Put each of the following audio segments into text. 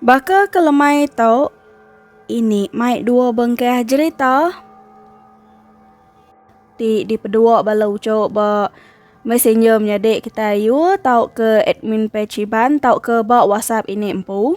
Baka ke lemai tu, ini mai dua bengkah jerita ti dipedua bala uchu ba messenger menyadi kitai ayu tauka admin page Iban tauka ba whatsapp ini empu.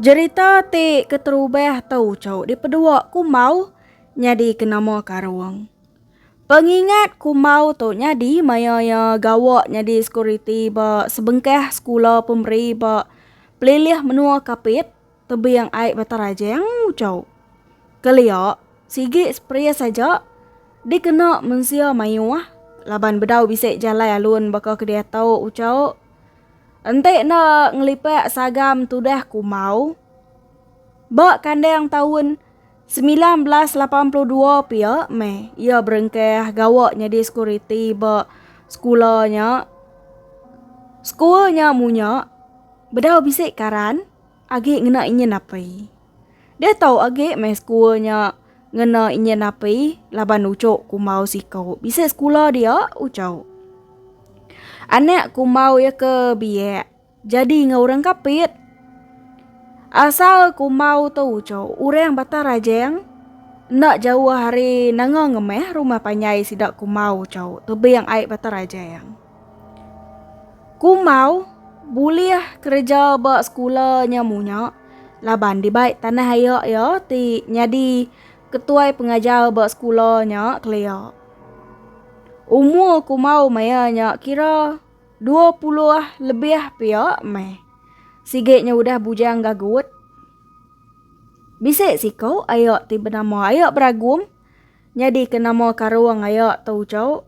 Jerita ti keterubah tu cu dipedua Kumau nyadi ke nama karung. Pengingat Kumau tu nyadi maya iya gawa nyadi sekuriti ba sebengkah sekula pemeri ba pelilih menua Kapit. Tebing ai Batarajang ucau. Kelia, sigi spres aja dikena mensia mayuh laban bedau bisi jalai alun baka ke diatu ucau. Enti enda ngelipak sagam tudah kumau. Ba kandang taun semilan belas lapan puluh dua pia meh iya berengkah gawa nyadi sekuriti ba sekula nya. Sekul nya munyak bedau bisi karan. Agi ngena inya napi. Deh tau agi meh sekul nya ngena inya napi laban ucok kumbau siko bisi sekula dia ucok. Anak kumbau iya ke biak jadi enggau orang kapit. Asal kumbau tu ucok orang Batang Rajang enda jauh ari Nanga Ngemeh rumah panjai sida kumbau ucok tebing ai Batang Rajang. Kumau bulih kereja ba sekula nya munya laban dibai tanah aia iya ti nyadi ketuai pengajar ba sekula nya kelia. Umur Kumau maya nya kira dua puluh lebih pia meh. Sigi nya udah bujang gagut. Bisi siku aia ti benama Aia Beragum nyadika nama karung aia tu uchu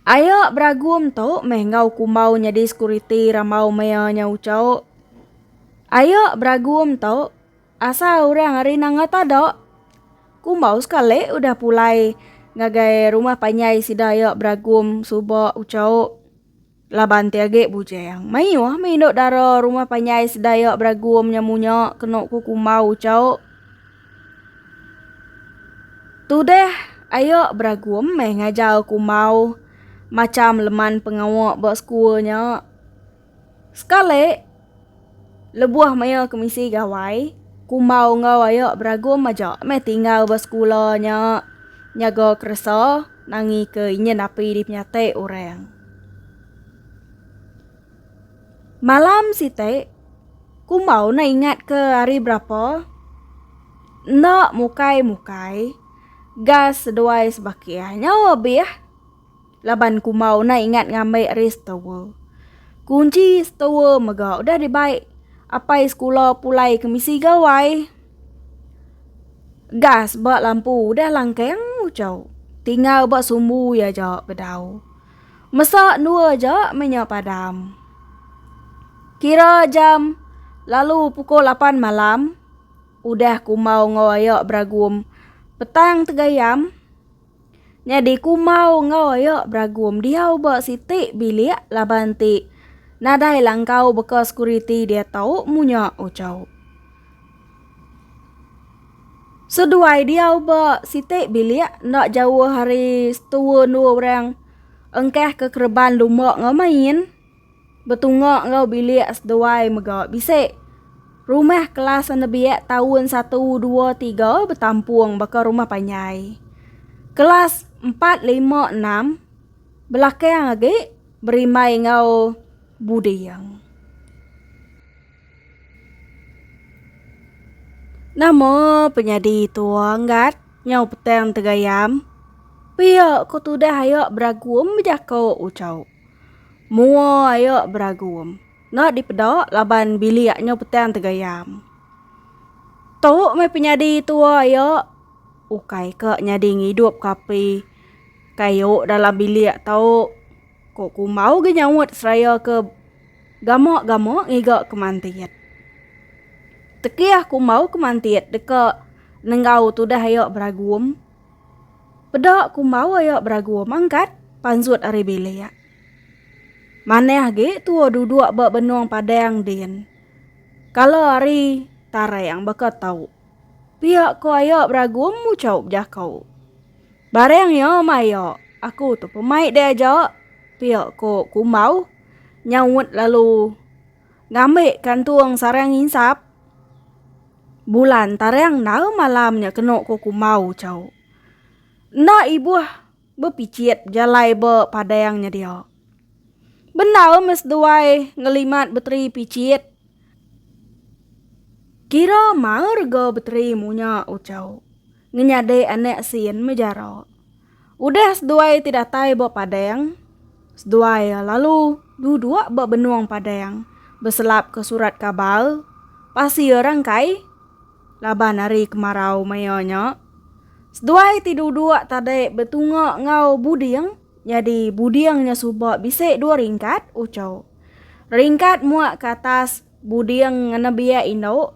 Aye beragum tu meh enggau kumbau nyadi sekuriti rambau mea nya uco. Aye beragum tu asal orang ari Nanga Tada. Kumbau sekali udah pulai ngagai rumah panjai sida aye beragum suba uco. Laban ti agi bujang. Mayuh mih indu dara rumah panjai sedayak beragum nya munya kenu ku kumbau ucau. Tudah aya beragum meh ngajar kumbau macham leman pengawa ba sekul nya. Sekali. Lebuh maya ke misi gawai, Kumbau enggau ayak beragum aja meh tinggal ba sekula nya nyaga keresa nangi ke inyin api dipenyati orang. Malam siti, Kumbau enda ingat ke hari berapa, enda mukai-mukai, gas seduai sebakih. Nyau abih. Laban ku mau enda ingat ngambi restower. Kunchi store mega udah dibai apai sekula pulai ke misi gawai. Gas ba lampu udah langkang ucau. Tinggal ba sumbu iya aja bedau. Mesa endua aja meh nya padam. Kira jam lalu pukul lapan malam udah ku mau enggau aya beragum petang tegayam. Nyadi kumau enggau iya beragum diau ba siti bilik laban ti nadai langkau beka sekuriti diatu munya uchu. Seduai diau ba siti bilik enda jauh ari setua endua orang engkah ke kereban lumba enggau main. Betunga enggau bilik seduai mega bisi. Rumah kelas senebiak taun satu dua tiga betampung baka rumah panjai. Kelas empat lima enam belakang agi berimbai enggau buding. Nama penyadi tua Ngat nyau petang tegayam pia ko tudah ayo beragum bejako ucho. Mua ayo beragum. Enda dipeda laban bilik nyo petang tegayam. Tu meh penyadi tua ayo. Ukai ka nyadi ngidup ke api kayu dalam bilik tu. Ko kumbau gi nyaut seraya ke gama-gama ngiga ke mantit. Tekih kumbau ke mantit deka nenggau tudah ayo beragum. Peda ku embawa iya beragu mangkat panzut ari bilik. Manah agi tua duduk ba benung padang din. Kala hari tarang baka tau. Pia ko iya beragu muchau bejako. Barang iya mai iya, aku tu pemai diaja, pia ko kumbau nyaut lalu. Ngambi kantung sarang nginsap bulan tarang endar malam nya kenu ku Kumbau Ucau. Enda ibuh bepichit jalai ba padang nya dia. Bendar meh seduai ngelimat beteri pichit. Kira maerga beteri munya Ucau. ngenyadi anak sin mejara. Udah seduai ti datai ba padang, seduai lalu duduk ba benung padang beselapka surat kabar pasir rangkai laban hari kemarau maya nya. Seduai ti duduk tadi betunga enggau buding nyadi buding nya suba bisi dua ringkat uchu. Ringkat muak ke atas Buding nebiak indu,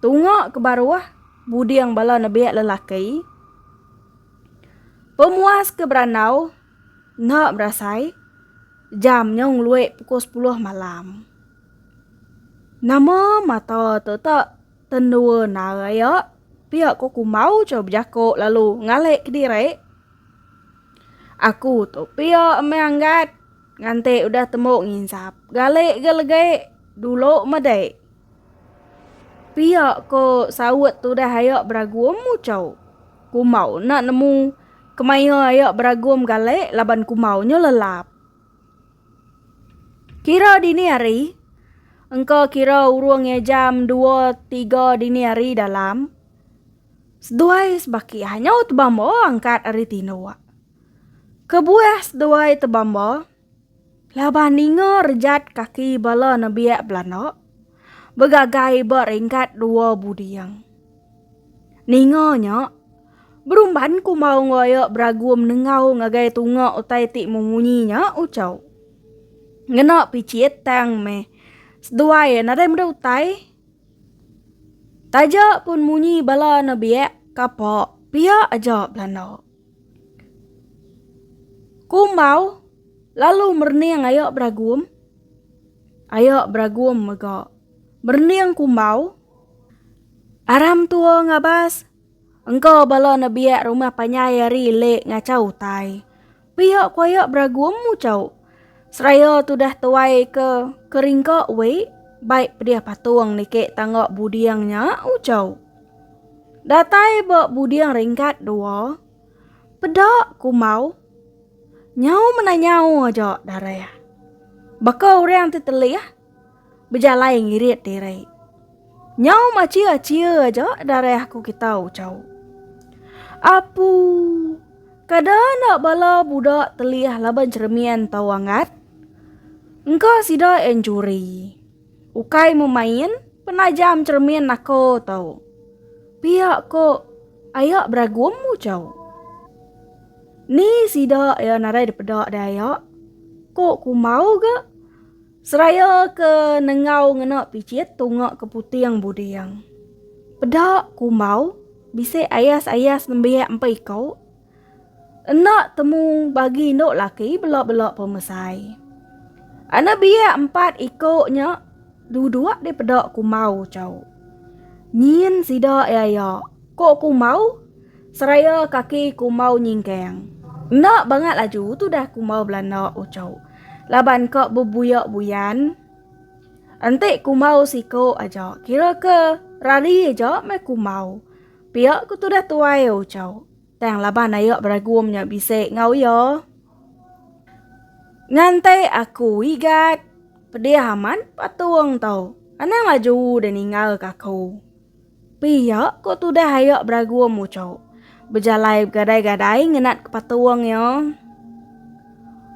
tunga ke baruh buding bala nebiak lelaki. Pemuas ke berandau enda berasai jam nyau ngelui pukul sepuluh malam. Nama mata tu tak tendua nal aya pia ko kumbau chau bejako lalu ngalik kediri. Aku tu pia meh anggat. Ngante udah tembu nginsap. Galik ga legi. Dulu medi. Pia ko saut tudah aya beragum muchau. Kumau enda nemu. Kemaya aya beragum galik laban kumau nyo lelap. Kira dini hari. Engka kira urung nge jam dua tiga dini hari dalam. Seduai sebaki hanyo tebambo angkat ari tindok. Kebuah seduai tebamba laban ninga rejat kaki bala nebiak belanda begagai ba ringkat dua buding. Ninga nya berumban ku maung raya beragum nengau ngagai tunga utai ti memunyi nya ucau. Ngena pichit tang meh seduai nadai meda utai. Taja pun munyi bala nebiak kapa pia aja belanda. Kumbau lalu merening ayo beragum. Ayo beragum mega merening kumbau. Aram tua ngabas, engka bala nebiak rumah panjai ari lek ngachau utai. Pia ku ayo beragum muchau. Seraya tudah tuai ke keringka we baik pedih patung niki tangga buding nya ujau. Datai ba buding ringkat dua peda kumau nyau mena nyau aja dareh. Baka orang ti telih. bejalai ngirit diri. Nyau machia-chia aja darah aku kitau chau. Apu, kada enda bala budak telih laban cheremin tau anggat. Engka sida enjuri. Ukai memain, penajam cheremin naka tau. Pia ko aya beragum mu chau. Ni sida iya narai dipeda dai aya? Ko kumau ga. Seraya ke nengau ngena pichit tunga ke puting buding. Peda kumbau bisi ayas-ayas nembiak empa iko. Enda temu bagi indu laki bela-bela pemesai. Anak biak empat iko nya duduk di peda kumbau chau. Nyin sida iya-iya, ko kumbau. Seraya kaki kumau nyingkang. Enda bangat laju tudah kumau belanda uchu. Laban ka bebuyak buyan. Enti kumau siko aja. Kira ke rari aja meh kumau. Piak ku tudah tuai uchu. Tang laban ayak beragum nya bisi ngau iya. Ngantai aku igat. Pedih amat patung tu. Anang laju de ninggal ka aku. Pia ko tudah ayak beragum muchok. Bejalai begadai-gadai ngenat patung ya.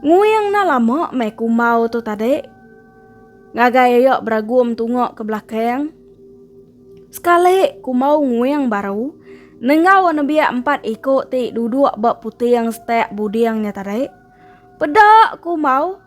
Nguing na lama mai kumbau tu tadi. Ngagai ayak beragum tungak ke belakang. Sekali kumbau nguing baru. Nenggau nebiak empat iko ti duduk ba puting setak buding nya tadi. Peda kumbau.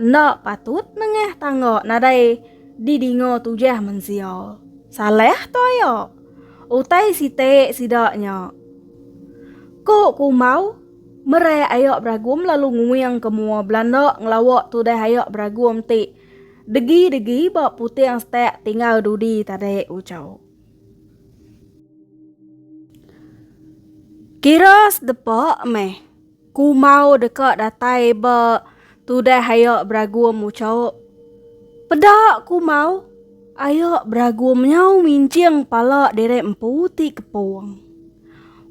Enda patut nengah tangga nadai didinga tujah mensia. Salah toya. Utai siti sida nya. Ku Kumau, merai aya beragum lalu nguing ke mua belanda ngelawa tudah aya beragum ti degi-degi ba puting setak tinggal dudi tadi ucau. Kira sedepa meh. Ku Mau deka datai ba tudah haya beragum ucaup. Peda ku Mau, aya beragum nyau minjing pala diri empu ti kepung.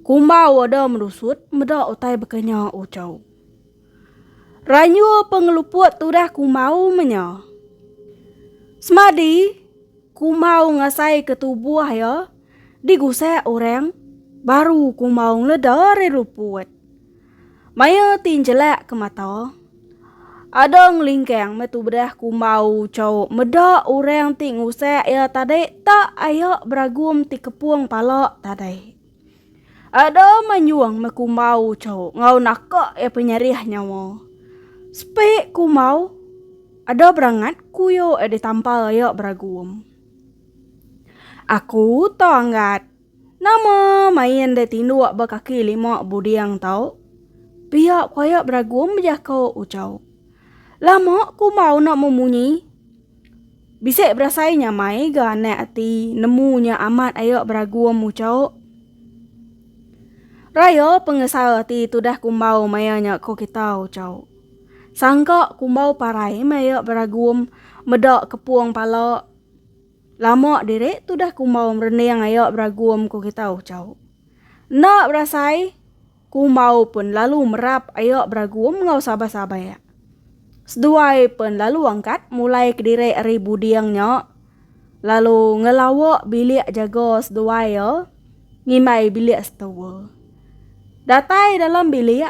Ku Mau ada merusut meda utai baka nya ucaup. Ranyu pengeluput tudah ku Mau menya. Semadi ku Mau ngasai ke tubuh iya, digusak orang baru kumbau leda ari luput. Maya ti njelak ke mata, ada ngelingkang metu bedah kumbau cau meda orang ti ngusak iya tadi tak aya beragum ti kepung pala tadi. Ada manyung me kumbau cau enggau naka iya penyerih nyawa. Sepi kumbau ada berangat kuyo iya ditampar iya beragum. Aku tong gat. Nama main deh tinduk ba kaki lima buding tau? Pia koyak beragum bejako Ucau. Lama ku mau enda memunyi. Bisi berasai nyamai ga anak ati nemu nya amat aya beragum Ucau. Raya pengesal ati tudah kumbau maya nya ko kita Ucau. Sangka kumbau parai maya beragum meda kepung pala lama diri tudah kumbau merening aya beragum ku kita ucau. Enda berasai kumbau pun lalu merap aya beragum enggau sabai-sabai iya. Seduai pun lalu angkat mulai kediri ari buding nya lalu ngelawa bilik jaga seduai iya ngimbai bilik setewa. Datai dalam bilik.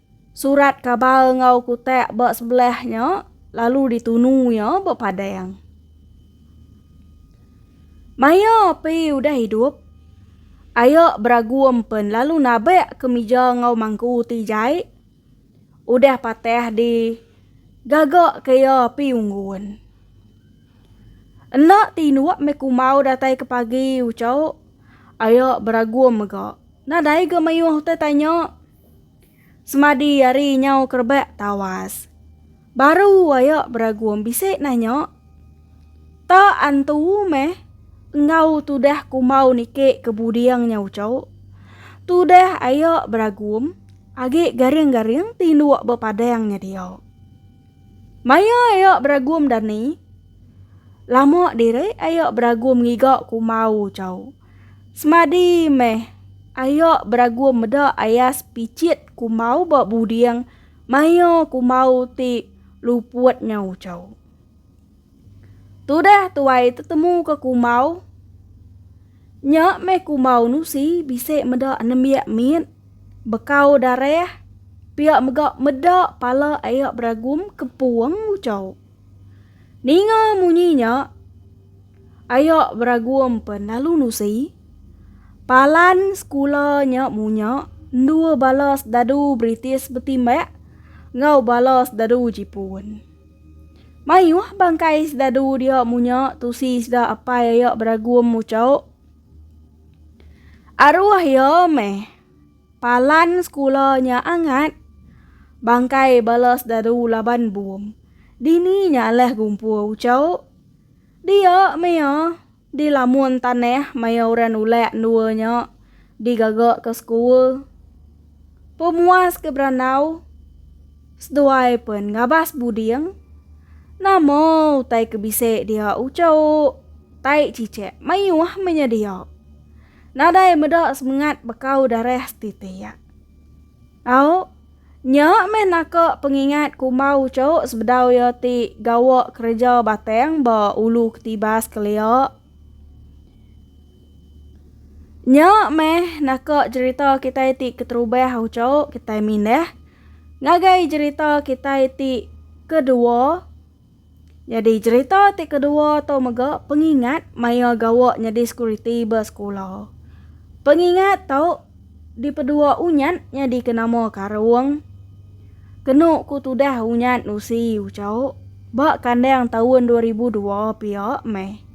Surat kabar enggau kutak ba sebelah nya lalu ditunu iya ba padang. Maya api udah hidup, ayak beragum pen lalu nabak ke mija enggau mangku ti jai udah patah di gaga ke iya api unggun. Enda ti inuk meh kumau datai ke pagi ucau ayak beragum mega. Nadai ga mayuh utai tanya. Semadi ari nyau ke rebak tawas. Baru aya beragum bisi nanya. Ta antu meh enggau tudah kumbau niki ke buding nya uchu. Tudah aya beragum agi garing-garing tinduk bepadang nya dia. Maya aya beragum dani. Lama diri aya beragum ngiga kumbau uchu. Semadi meh, ayo beragum meda ayas pichit kumau ba buding mayo kumau ti luput nyau chau. Tudah tuai tetemu ke kumau, nya meh kumau nusi bisi meda nembiak mit, bekau darah, pia mega meda pala ayo beragum kepung uchau. Ninga munyi nya, Ayok Beragum pen lalu nusi. Palan sekula nya munya endua bala sedadu British betimbak enggau bala sedadu Jipun. Mayuh bangkai sedadu dia munya tusi sida apai Ayok Beragum muchok. Aruh iya meh. Palan sekula nya angat. Bangkai bala sedaru laban bum. Dini nya alah gumpur ucau. Dia mea, di lamun tanah maya orang nulak endua nya digaga ke sekul. Pemuas ke berandau, seduai pen ngabas buding. Nama utai ke bisi dia ucau Tai Cicak mayuh menyediak. Nadai meda semengat bekau darah setiti iya. Au, nya meh naka pengingat kumbau uchu sebedau iya ti gawa kereja batang ba ulu ketibas kelia. Nya meh naka jerita kitai ti keterubah uchu kitai mindah ngagai jerita kitai ti kedua. Nyadi cherita ti kedua tu mega pengingat maya gawa nyadi sekuriti ba sekula. Pengingat tu dipedua Unyat nyadika nama Karung. Kenu ku tudah Unyat nusi ucho ba kandang taun dua ribu dua pia meh.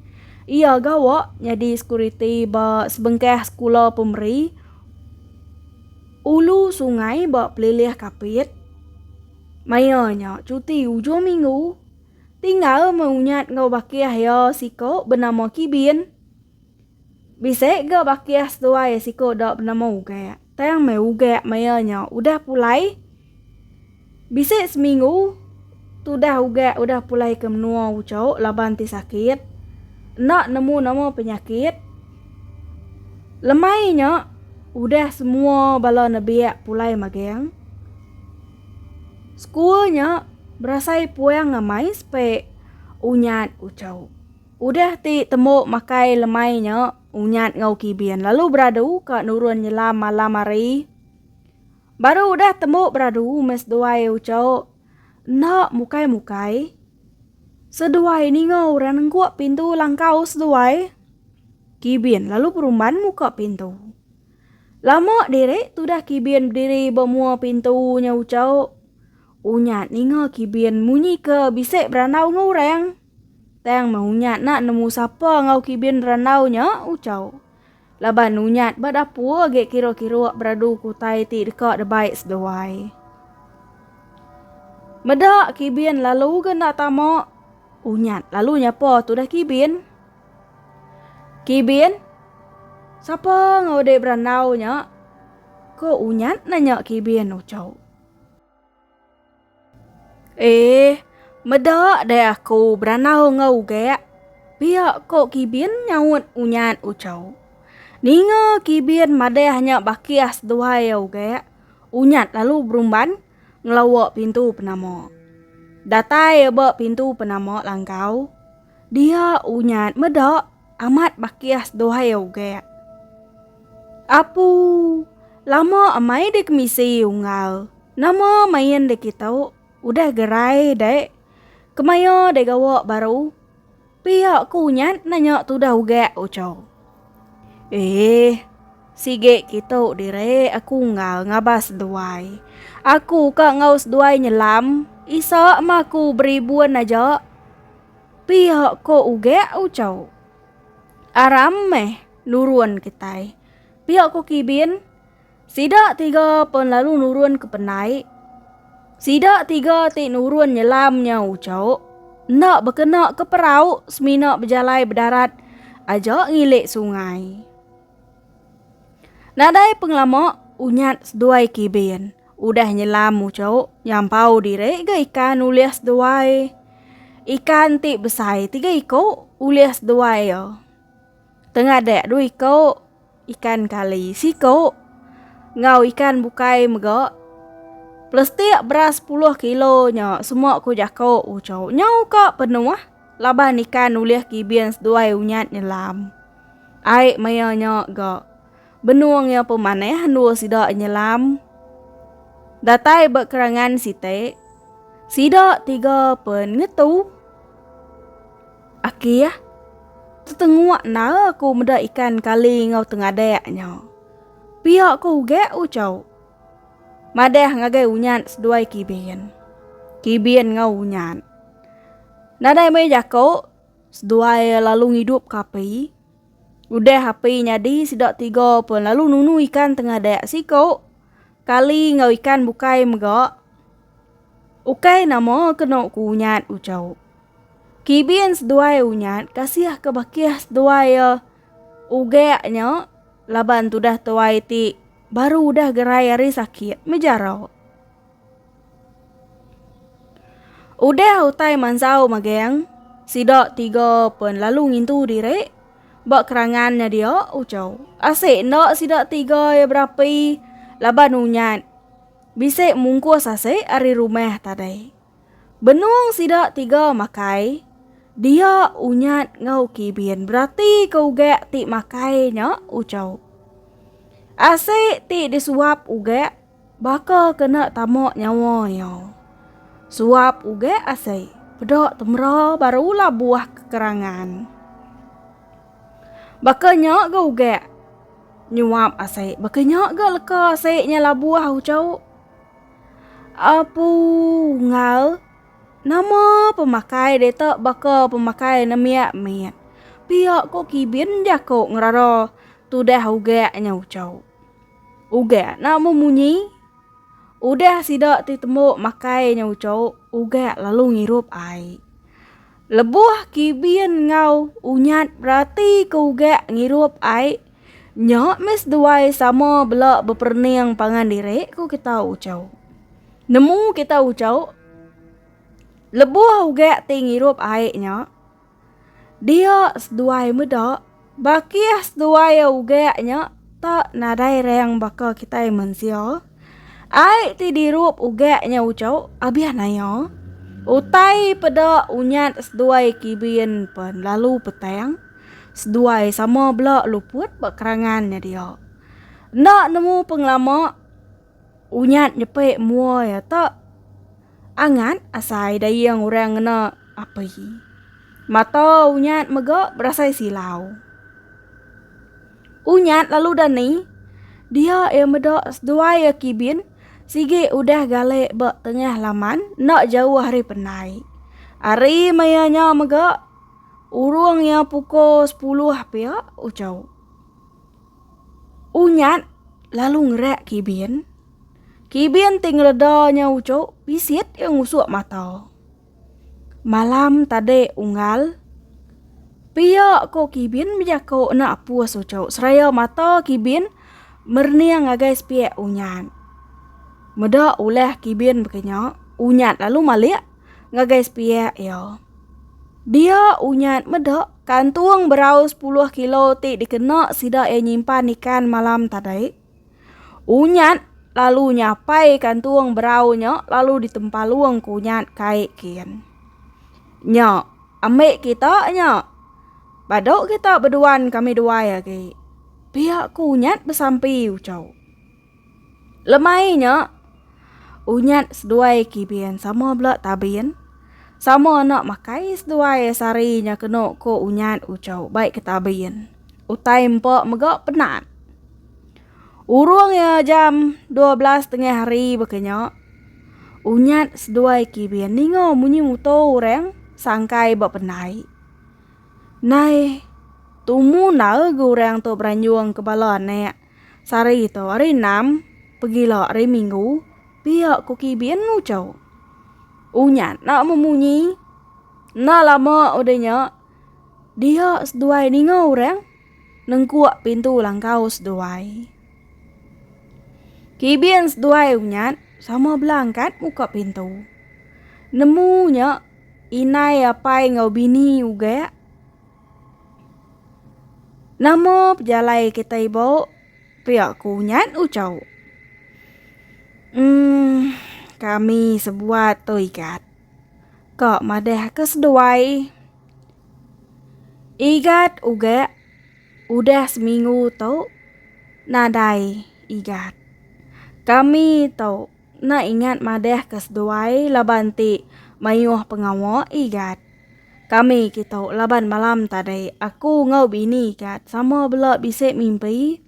Iya gawa nyadi sekuriti ba sebengkah sekula pemeri ulu sungai ba Pelilih Kapit. Maya nya cuti ujung minggu, tinggal meh Unyat enggau Bakiah iya siko benama Kibin. Bisi ga Bakiah seduai siko da benama Ugak. Tang meh Ugak maya nya udah pulai. Bisi seminggu tudah Ugak udah pulai ke menua Uchok laban ti sakit. Enda nemu nama penyakit. Lemai nya udah semua bala nebik pulai magang. Sekul nya berasai puang amai sepe Unyat Uchau. Udah ti tembu makai lemai nya Unyat enggau Kibin lalu beradu ka nurun nyelam malam hari. Baru udah tembu beradu meh seduai Uchau enda mukai-mukai. Seduai ninga orang nengkuk pintu langkau seduai. Kibin lalu perumban muka pintu. Lama diri tudah Kibin bediri ba mua pintu nya Uchau. Unyat ninga Kibin munyi ke bisi berandau enggau orang. Tang meh Unyat nak nemu sapa enggau Kibin berandau nya Uchau. Laban Unyat ba dapur agi kiruk-kiruk beradu ke utai ti deka debai seduai. Meda Kibin lalu ga enda tama, Unyat lalu nyapa tudah Kibin. Kibin, Sapa enggau dek berandau nya? Ko Unyat nanya Kibin ucau. Eh, meda dek aku berandau enggau ugek. Pia ko Kibin nyaut Unyat ucau. Ninga Kibin madah nya bakih seduai iya ugek, Unyat lalu berumban ngelawa pintu penama. Datai iya ba pintu penama langkau. Dia unyat meda amat bakih seduai ugak. Apu, lama amai dek misi unggal. Nama main dek kita udah gerai dek. Kemaya dek gawa baru. Pia ke unyat nanya tudah ugak ucau. Eh, sige kita dire aku unggal ngabas seduai. Aku ka ngau seduai nyelam, isa ma aku beribun aja. Pia ko ugek ucau. Aram meh nurun kitai. Pia ko kibin. Sida tiga pun lalu nurun ke penai. Sida tiga ti nurun nyelam nya ucau. Enda bekena ke perau semina bejalai bedarat aja ngilik sungai. Nadai pengelama unyat seduai kibin. Udah nyelam ucuk, nyampau diri ga ikan ulih seduai. Ikan ti besai tiga iku ulih seduai ya. Tengadak dua iku ikan kali siku enggau ikan bukai mega. Plastik beras sepuluh kilo nya semua ku jaku ucuk nyau ka penuh. Laban nikan nulih kibin seduai unyat nyelam. Ai maya nya ga benung iya pemanah endur sida nyelam. Datai ba kerangan siti, sida tiga pen ngetu. Aki ah, tetengua enda aku meda ikan kali enggau tengadak nya. Pia ko ugak ucau. Madah ngagai unyat seduai kibin. Kibin ngau unyat. Nadai meh jako seduai lalu ngidup ke api. Udah api nyadi sida tiga pun lalu nunu ikan tengadak siko kali ngau ikan bukai mega. Ukai nama keno ku unyat ucau. Kibin seduai unyat kasih ke bakih seduai ugak nya laban tudah tuai ti. Baru udah gerai ari sakit mejarau. Udah utai mansau magang, sida tiga pen lalu ngintu diri ba kerangan nya dia ucau. Asik enda sida tiga ya berapi laban unyat bisi mungkus asik ari rumah tadai. Benung sida tiga makai, dia Unyat enggau Kibin beratika ugak ti makai nya uchau. Asi ti disuap ugak baka kena tama nyawa iya. Suap ugak asi peda temera barulah buah kekerangan. Baka nya ga ugak nyuap asi, baka nya ga leka asi nya labuh uchauk. Apu ngal, nama pemakai deka baka pemakai nembiak mit. Pia ko kibin jako ngerara tudah ugak nya uco. Ugak na memunyi. Udah sida ti tembu makai nya uco, ugak lalu ngirup ai. Lebuh kibin ngau unyat berati ke ugak ngirup ai. Nya mes duai sama bela beperening pangan diri, ku kita ucau. Nemu kita ucau, lebuh ugak ti ngirup ai nya, dia seduai meda, bakih seduai ugak nya tak nadai rang baka kitai mensia. Ai ti dirup ugak nya uco abih nayo. Utai peda unyat seduai kibin pen lalu petang. Seduai sama bela luput ba kerangan nya dia. Enda nemu pengelama unyat nyepi mua ya te. Angat asai dayung orang ngena api. Mata Unyat mega berasai silau. Unyat lalu dani dia ia meda seduai ia kibin sigi udah galek ba tengah laman enda jauh ari penai. Ari maya nya mega urung ia puko sepuluh pia uchu. Unyat lalu ngerak kibin. Kibin ti ngereda nya ucuk bisit iya ngusuk mata. Malam tadi unggal, pia ko Kibin bejako enda apus ucuk seraya mata Kibin merening ngagai sepiak unyat. Meda ulah Kibin bekenya, unyat lalu malik ngagai sepiak iya. Dia unyat meda kantung berau sepuluh kilo ti dikena sida iya nyimpan ikan malam tadi. Unyat lalu nyapai ka entung berau nya lalu ditempalung ke unyat kai kin. Nya, ambi kita nya. Badu kita beduan kami duai agi. Pia ku unyat besampi uchu. Lemai nya, unyat seduai kibin sama bela tabin, sama enda makai seduai sari nya kenu ku unyat uchu bai ke tabin. Utai empa mega penat. Urung iya jam dua belas tengah hari baka nya, Unyat seduai Kibin ninga munyi muto orang sangkai ba penai. Nai tumu enda ga orang tu beranjung ke bala anak sehari tu hari enam pegila hari minggu, pia ku Kibin ngucho. Unyat enda memunyi. Enda lama udah nya. Diak seduai ninga orang nengkuk pintu langkau seduai. Kibin seduai unyat sama belangkat muka pintu. Nemu nya inai apai enggau bini ugak. Nama pejalai kitai bau pia ku unyat ucau. Em kami sebuat tu ikat. Ka madahka seduai, Igat uga udah seminggu tu nadai Igat. Kami tu enda ingat madahka seduai laban ti mayuh pengawa Igat. Kami kitu laban malam tadi aku enggau bini Igat sama bela bisi mimpi.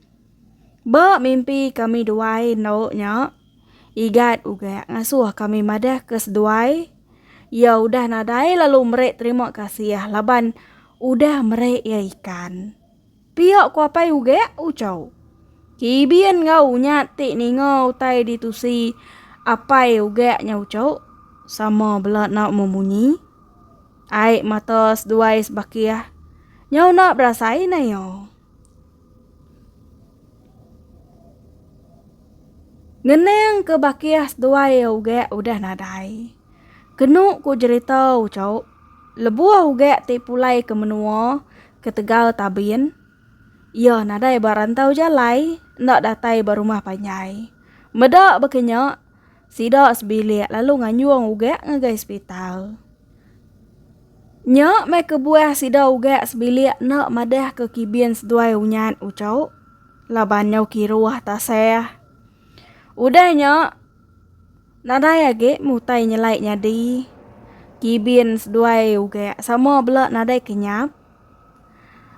Ba mimpi kami duai endo nya. Igat uga ngasuh kami madah ke seduai iya udah nadai lalu meri terima kasih laban udah meri iya ikan. Pia ku apai uga Uchau. Kibin enggau nya ti ninga utai ditusi apai uga nya Uchau sama bela enda memunyi. Ai mata seduai sebakih nyau enda berasai naya. Ngeneng ke bakih seduai ugek udah nadai. Kenu ku jerita ucok, lebuh ugek ti pulai ke menua ketegal Tabin, iya nadai ba rantau jalai enda datai ba rumah panjai. Meda baka nya, Sida sebilik lalu nganjung ugak ngagai sepital. Nya meh kebuah sida ugak sebilik enda madahka kibin seduai unyat uchu laban nyau kiruh tasah. Udah nya, nadai agi meh utai nyelai nyadi. Kibin seduai ugak sama bela nadai kenyap.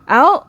Au.